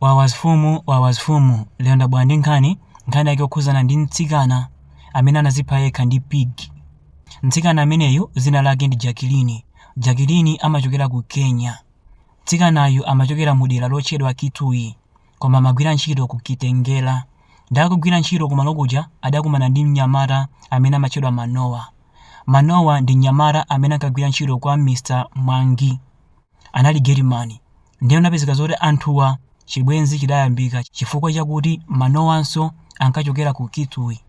Wawasfumu wawasfumu lero ndabwera ndi nkhani nkhani yake yokhuzana ndi mtsikana amene anazipha yekha ndi pig mtsikana ameneyu zina lake ndi jakilini jakilini amachokera ku kenya mtsikanayu amachokera mu dera lotchedwa kitui koma amagwira ntchito ku kitengela ndakugwira ntchito kumalo kuja adakumana ndi mnyamata amene amatchedwa manowa manowa ndi mnyamata amene ankagwira ntchito kwa mr mwangi anali getimani. Ndiye unapezeka zoti anthuwa chibwenzi chidayambika chifukwa chakuti manowanso ankachokera ku Kitui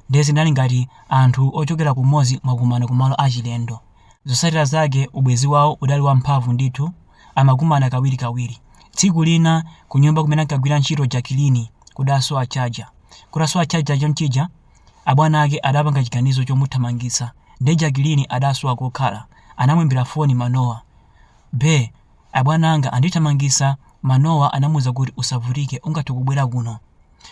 ndiye zinali ngati anthu ochokera kumodzi mwakumana kumalo achilendo. Zotsatira zake ubwenzi wawo udali wamphamvu ndithu amakumana kawirikawiri. Tsiku lina kunyumba kumene ankagwira ntchito Jakilini kudasowa chaja. Kutasowa chaja chonchija. Abwana ake adapanga chiganizo chomuthamangitsa nde Jakilini adasowa kokhala. Anamuimbira foni Manowa. Be, abwana anga andithamangitsa, Manowa anamuuza kuti usavutike ungathe kubwera kuno.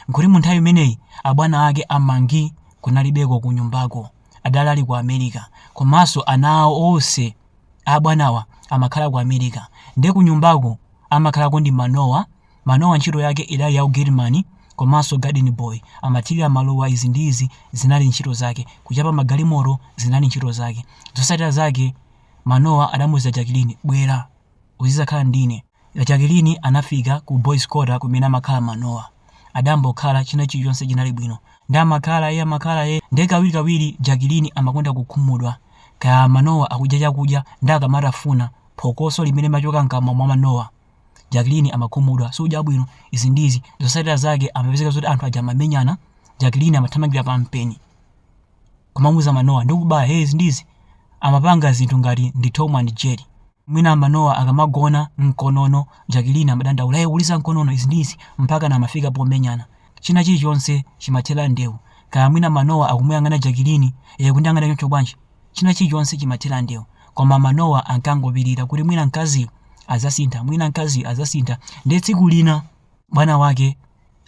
Nkuti munthawi imeneyi abwana ake a Mwangi kunalibeko kunyumbako, adali ali ku America komanso ana awo onse a abwanawa amakhala ku America nde kunyumbaku amakhalako ndi Manowa. Manowa ntchito yake idali ya u gate man komanso garden boy, amathirira maluwa izi ndi izi zinali ntchito zake, kuchapa magalimoto zinali ntchito zake. Zotsatira zake Manowa adamuuza Jakilini, bwera uzidzakhala ndine. Jakilini anafika ku boys quarter kumene amakhala Manowa. Adambokhala, china chilichonse chinali bwino. Nde amakhala e amakhala e, nde kawirikawiri Jakilini amakonda kukhumudwa kaya Manowa akudya chakudya nde akamatafuna, phokoso limene limachoka mkamwa mwa Manowa Jacqueline amakhumudwa sudya bwino izi ndizi zotsatira zake amapezeka zoti anthu aja amamenyana Jacqueline amathamangira pa mpeni kumamuuza manowa ndikubaya hey izi ndizi amapanga zinthu ngati ndi Tom and Jerry mwina manowa akamagona mkonono Jacqueline amadandaula hey uliza mkonono izi ndizi mpakana amafika pomenyana china chilichonse chimathera ndewu kaya mwina manowa akumuyang'ana Jacqueline hey kundiyang'ana choncho bwanji China chilichonse chimathera ndewu. Koma Manowa ankangopirira kuti mwina mkazi adzasintha, mwina mkazi adzasintha. Ndiye tsiku lina bwana wake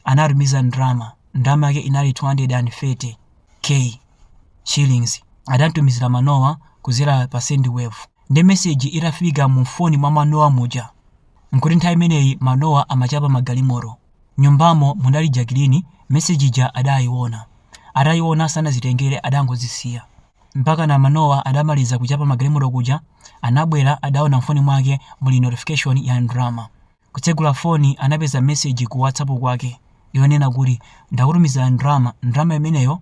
anatumiza ndalama. Ndalama yake inali 230k shillings. Adamtumizira Manowa kudzera pa Sendwave. Ndiye meseji itafika mu foni mwa Manowa muja, nkuti nthawi imeneyi Manowa amachapa magalimoto. Nyumbamo munali Jakilini message ija adayiona. Ataiona sanazitengere adangozisiya. Mpakana Manowa adamaliza kuchapa magalimoto kuja anabwera adaona mfoni mwake muli notification ya ndalama. Kutsegula foni anapeza message ku WhatsApp kwake yonena kuti ndakutumizira ndalama, ndalama imeneyo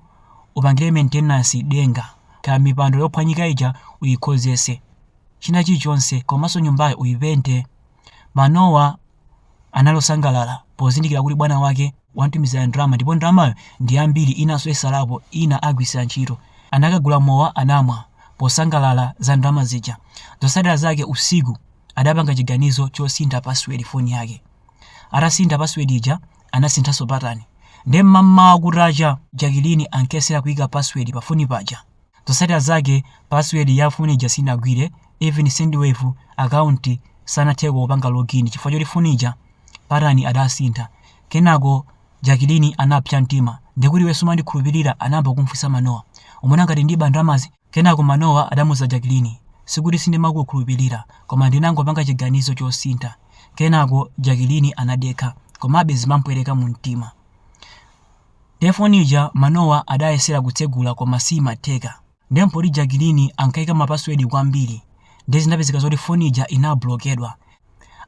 upangire maintenance denga, kaya mipando yophwanyika ija uyikhozese, china chilichonse komanso nyumbayo uyipente. Manowa. anali osangalala pozindikira kuti bwana wake wamtumizira ndalama ndipo ndalamayo ndi yambiri inanso isalapo ina agwiritsira ntchito. Anakagula mowa anamwa posangalala za ndalama zija. Zotsatira zake usiku adapanga chiganizo chosintha password foni yake. Atasintha password ija anasinthanso patani. Nde mmamawa kutacha Jakilini ankesera kuika password pafoni paja. Zosatira zake password ya phone ija sinagwire, even sendwave account sanatheko kupanga login chifukwa choti phone ija pattern adasintha. Kenako Jakilini anapsa mtima. Ndekuti iwe sumandikhulupilira? Anayamba kumfunsa Manowa. Umona ngati ndiba ndalamazi? Kenako Manowa adamuza Jakilini. Sikuti sindimakukhulupilira, koma ndinangopanga chiganizo chosintha. Kenako Jakilini anadekha, komabe zimampweteka mumtima. Nde foni ija manowa adayesera kutsegula koma siyimatheka nde mpoti Jakilini ankayika ma password kwambiri nde zinapezeka zoti foni ija inablokedwa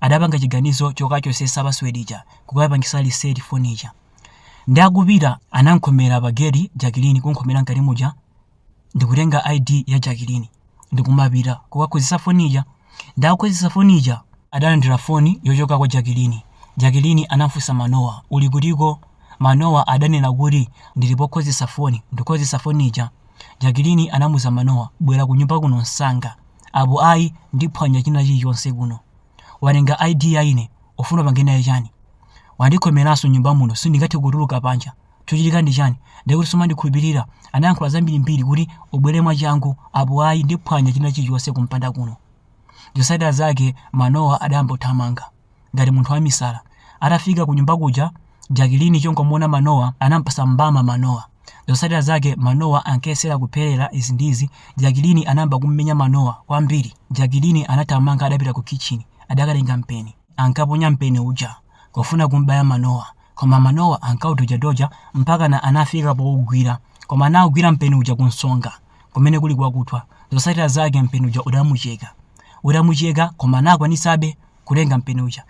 adapanga chiganizo chokachosesa password ija kukapangisa reset foni ija nde akupita anankhomera pa geti Jakilini kunkhomera mkati muja ndikutenga ID ya Jakilini ndikumapita kukakhozesa foni ija. Nde akukhozesa foni ija adalandira foni yochoka kwa Jakilini. Jakilini anamfusa Manowa, uli kutiko? Manowa adanena kuti ndili pokhozesa foni, ndikukhozesa foni ija. Jakilini anamuza Manowa, bwera kunyumba kuno msanga, apo ayi ndiphwanya china chilichonse kuno. Watenga ID ya ine, ufuna upange naye chani? Wandikhomeranso nyumba muno sindingathe kutuluka panja. Chochitika ndi chani? Ndiye kuti sumandikhulupirira? Anayankhula zambirimbiri kuti ubwere mwachangu apo ayi ndiphwanya china chilichonse kumpanda kuno. Zotsatira zake Manowa adayamba kuthamanga ngati munthu wamisala. Atafika kunyumba kuja Jakilini chongomuona Manowa anampasa mbama Manowa. Zotsatira zake Manowa ankayesera kupherera izi ndi izi Jakilini anayamba kummenya Manowa kwambiri. Jakilini anathamanga adapita kukhitchini adakatenga mpeni. Ankaponya mpeni uja kufuna kumbaya Manowa. Koma manowa ankaudojadoja mpakana anafika pougwira. Koma anaugwira mpeni uja kunsonga, kumene kuli kwakuthwa. Zotsatira zake mpeni uja udamucheka. Utamucheka koma anakwanisabe kutenga mpeni uja.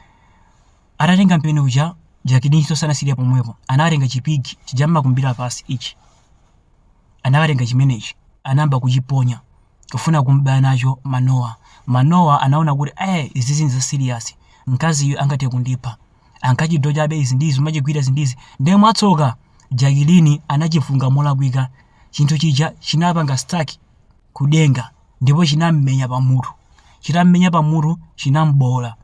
Atatenga mpeni uja, Jakilinso sanasiyire pomwepo. Anatenga chipiki chija mmakumbira pasi ichi. Anakatenga chimenechi, anayamba kuchiponya kufuna kum'baya nacho manowa. Manowa anaona kuti eh izizi nza serious. Mkaziyu angathe kundipha. ankachidojabe izi ndi izi kumachigwira izi ndi izi nde mwatsoka jakilini anachifunga molakwika chinthu chija chinapanga stuck kudenga ndipo chinammenya pamutu chitammenya pamutu chinambowola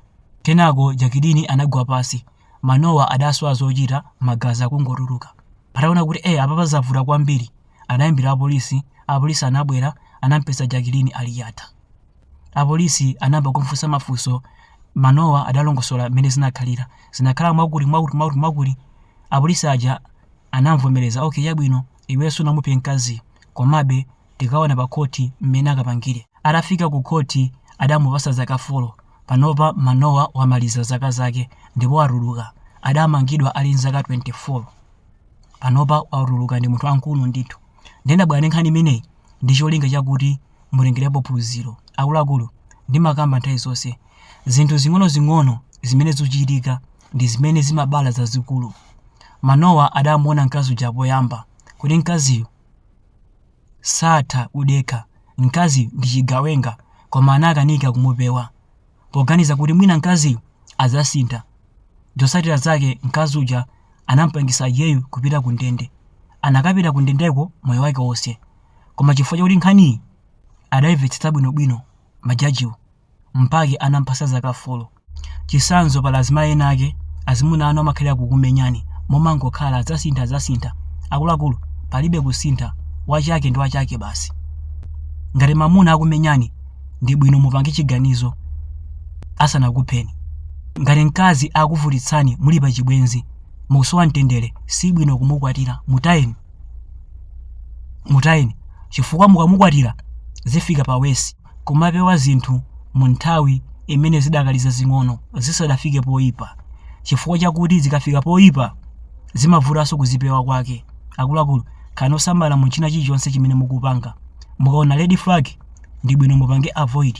kenako jakilini anagwa pasi manowa adasowa zochita magazi akungotuluka ataona kuti e apa pazavuta kwambiri Anayimbira apolisi, apolisi anabwera, anampeza Jacqueline ali yata. Apolisi anayamba kumfunsa mafunso, Manowa adalongosola mmene zinakhalira. Zinakhala mwakuti mwakuti mwakuti mwakuti. Apolisi aja anamvomereza, okay chabwino, iweyo sunamuphe mkaziyo, komabe tikaona pakhoti mmene akapangire. Atafika kukhoti adamupatsa zaka folo. Panopa Manowa wamaliza zaka zake ndipo watuluka. Adamangidwa ali nzaka 24. panopa watuluka ndi munthu wamkulu ndithu ndiye ndabwera ndi nkhani imeneyi ndi cholinga chakuti mutengerepo phunziro akuluakulu ndimakamba nthawi zonse zinthu zing'onozing'ono zimene zikuchitika ndi zimene zimabala zazikulu manowa adamuona mkazi uja poyamba kuti mkaziyu satha kudekha mkaziyu ndi chigawenga koma anakanika kumupewa poganiza kuti mwina mkaziyu adzasintha. Zotsatira zake mkazi uja anamupangisa iyeyu kupita ku ndende. Akanapita ku ndendeko moyo wake wonse. Koma chifukwa chakuti nkhaniyi adayimvetsetsa bwinobwino majajiwo, mpake anampatsa zaka folo. Chitsanzo pali azimayi ena ake azimuna anu amakhalira kukumenyani momangokhala adzasintha adzasintha. Akuluakulu palibe kusintha, wachake ndi wachake basi. Ngati mamuna akumenyani ndi bwino mupange chiganizo asanakupheni ngati mkazi akuvutitsani muli pa chibwenzi mukusowa mtendere si bwino kumukwatira mutayeni mutayeni chifukwa mukamukwatira zifika pa wesi kumapewa zinthu mu nthawi imene zidakali zazing'ono zisadafike poyipa chifukwa chakuti zikafika poyipa zimavutanso kuzipewa kwake akuluakulu khalani osamala mu china chilichonse chimene mukupanga mukaona red flag ndibwino mupange avoid.